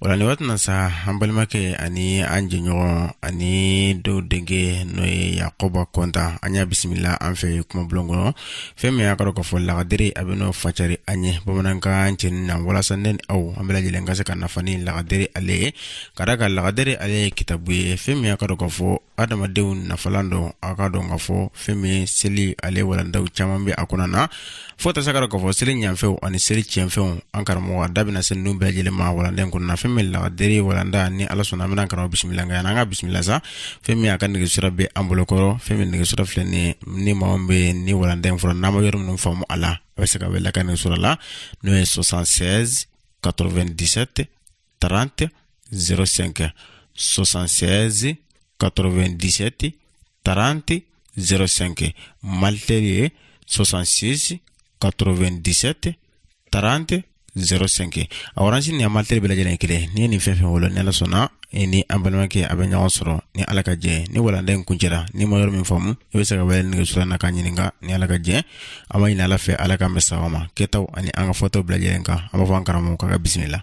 o la nin waati na sa an balimakɛ ani an jɛɲɔgɔn ani dɔw denkɛ n'o ye yakoba kɔntan an y'a bisimila an fɛ kumabulon kɔnɔ fɛn min y'a kɔrɔ k'a fɔ lagadere a bɛna o fasari an ye bamanankan cɛɲi na walasa ne ni aw an bɛɛ lajɛlen ka se ka nafa ni lagadere ale ye ka da a kan lagadere ale ye kitabu ye fɛn min y'a kɔrɔ k'a fɔ adamadenw nafalan don aw k'a dɔn k'a fɔ fɛn min seli ale walandaw caman bɛ a kɔnɔna fo tɛ sa k'a dɔn k'a fɔ seli ɲafɛnw ani seli tiɲɛfɛnw an karamɔgɔ a da bɛna se ninnu bɛɛ lajɛlen ma walanda in kɔnɔna fɛn min lagadere walanda ni ala sɔnna an bɛna karamɔgɔ bisimila nka an ka bisimila sa fɛn min a ka nɛgɛsira bɛ an bolo kɔrɔ fɛn min nɛgɛsira filɛ nin ni maa min bɛ ni walanda in fɔra n'a ma yɔrɔ minnu faamu a la a bɛ se ka wele ka nɛgɛsira la n'o ye 76 97 30 05 76 97 30 05 malitel ye 66 97 30 05 a oransi ni a malitel bɛɛ lajɛlen kelen n'i ye nin fɛn o fɛn wele ni ala sɔnna i ni an balimakɛ aw bɛ ɲɔgɔn sɔrɔ ni ala ka jɛ ni walanda in kuncɛra n'i ma yɔrɔ min faamu i bɛ se ka wele nɛgɛsira na k'a ɲininka ni ala ka jɛ an b'a ɲini ala fɛ ala ka mɛn sawa ma kɛtaw ani an ka fɔtaw bɛɛ lajɛlen kan an b'a fɔ an karamɔgɔ ka bisimila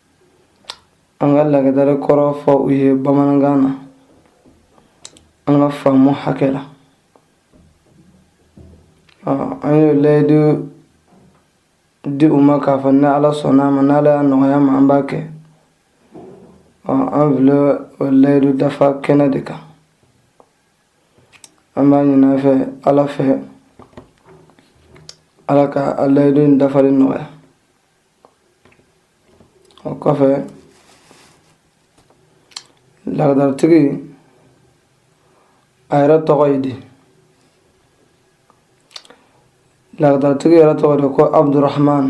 an ka lagadari kɔrɔ fɔ u ye bamanankan na an ka faamu hakɛ la an ye layidu di u ma k'a fɔ ni ala sɔnna a ma n'ala y'a nɔgɔya an ma an b'a kɛ an filɛ o layidu dafa kɛnɛ de kan an b'a ɲini a fɛ ala fɛ ala ka a layidu in dafali nɔgɔya O kɔfɛ lagadaratigi a yɛrɛ tɔgɔ ye di lagadaratigi yɛrɛ tɔgɔ de ko abudurahman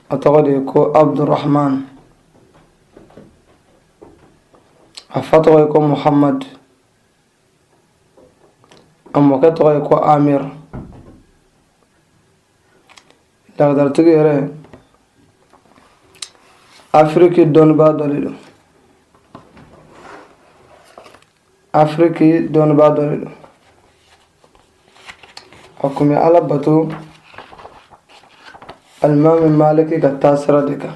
a tɔgɔ de ko abudurahman a fa tɔgɔ ye ko muhammadu A mɔkɛ tɔgɔ ye ko Amiru lagadaratigi yɛrɛ Afiriki dɔnnibaa dɔ de don Afiriki dɔnnibaa dɔ de don a tun bɛ Ala bato alimami Maliki ka taasira de kan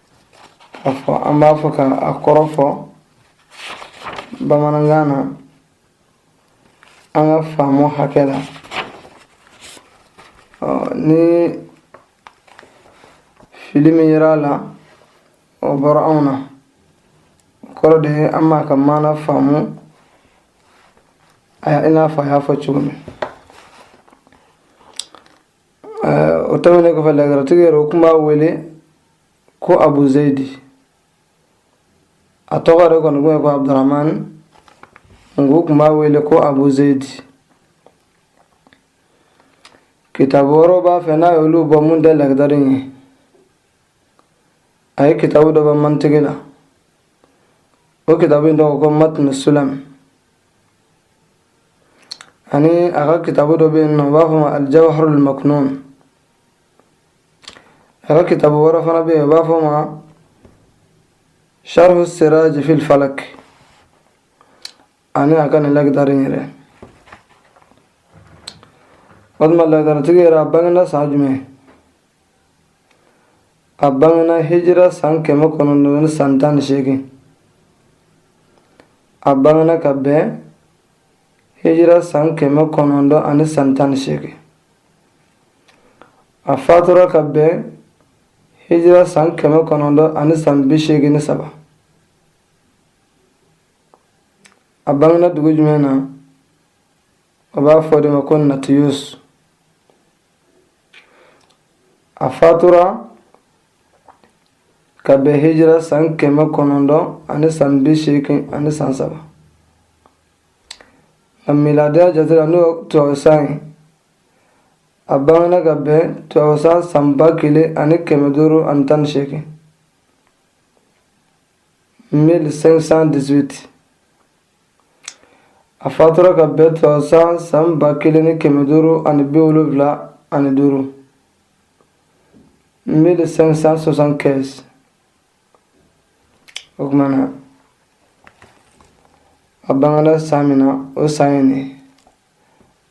a fɔ an b'a fɔ ka a kɔrɔ fɔ bamanankan na an ka faamu hakɛ la ni fili min yera a la o bɔra anw na o kɔrɔ de ye an m'a ka maana faamuya i n'a fɔ a y'a fɔ cogo min o tɛmɛnen kɔfɛ lagadaritigi yɛrɛ u tun b'a wele ko abu zeyidi a tɔgɔ yɛrɛ kɔni tun ye ko abudurahmani nka u tun b'a wele ko abu zeyidi kitabu wɛrɛw b'a fɛ n'a y'olu bɔ min tɛ lagadari ye a ye kitabu dɔ bɔ mantiki la o kitabu in tɔgɔ ko matnu sulam ani a ka kitabu dɔ bɛ yen n'u b'a fɔ o ma alijawharul maknun a ka kitabu wɛrɛ fana bɛ yen u b'a fɔ o ma sharhu siraj fil falak ani a ka nin lagadari in yɛrɛ walima lagadaritigi yɛrɛ a bangena san jumɛn a bangena hijira san kɛmɛ kɔnɔntɔn ni san tan ni seegin a bangena ka bɛn hijira san kɛmɛ kɔnɔntɔn ani san tan ni seegin a fatura ka bɛn hijira san kɛmɛ kɔnɔntɔn ani san bi seegin ni saba a bangena dugu jumɛn na u b'a fɔ o de ma ko natiyus A fatura ka bɛn hijira san kɛmɛ kɔnɔntɔn ani san bi seegin ani san saba a miladiya jate la n'o ye tubabusan ye a bangena ka bɛn tubabusan san ba kelen ani kɛmɛ duuru ani tan ni seegin 1518 a fatura ka bɛn tubabusan san ba kelen ni kɛmɛ duuru ani bi wolonwula ani duuru mille cinq cent soixante-quinze o tuma na a bangena san min na o san ye nin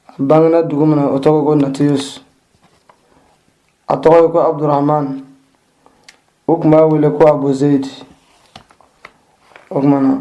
a bangena dugu min na o tɔgɔ ko natiyus a tɔgɔ ye ko abdurahman u tun b'a wele ko abu zeyidi o tuma na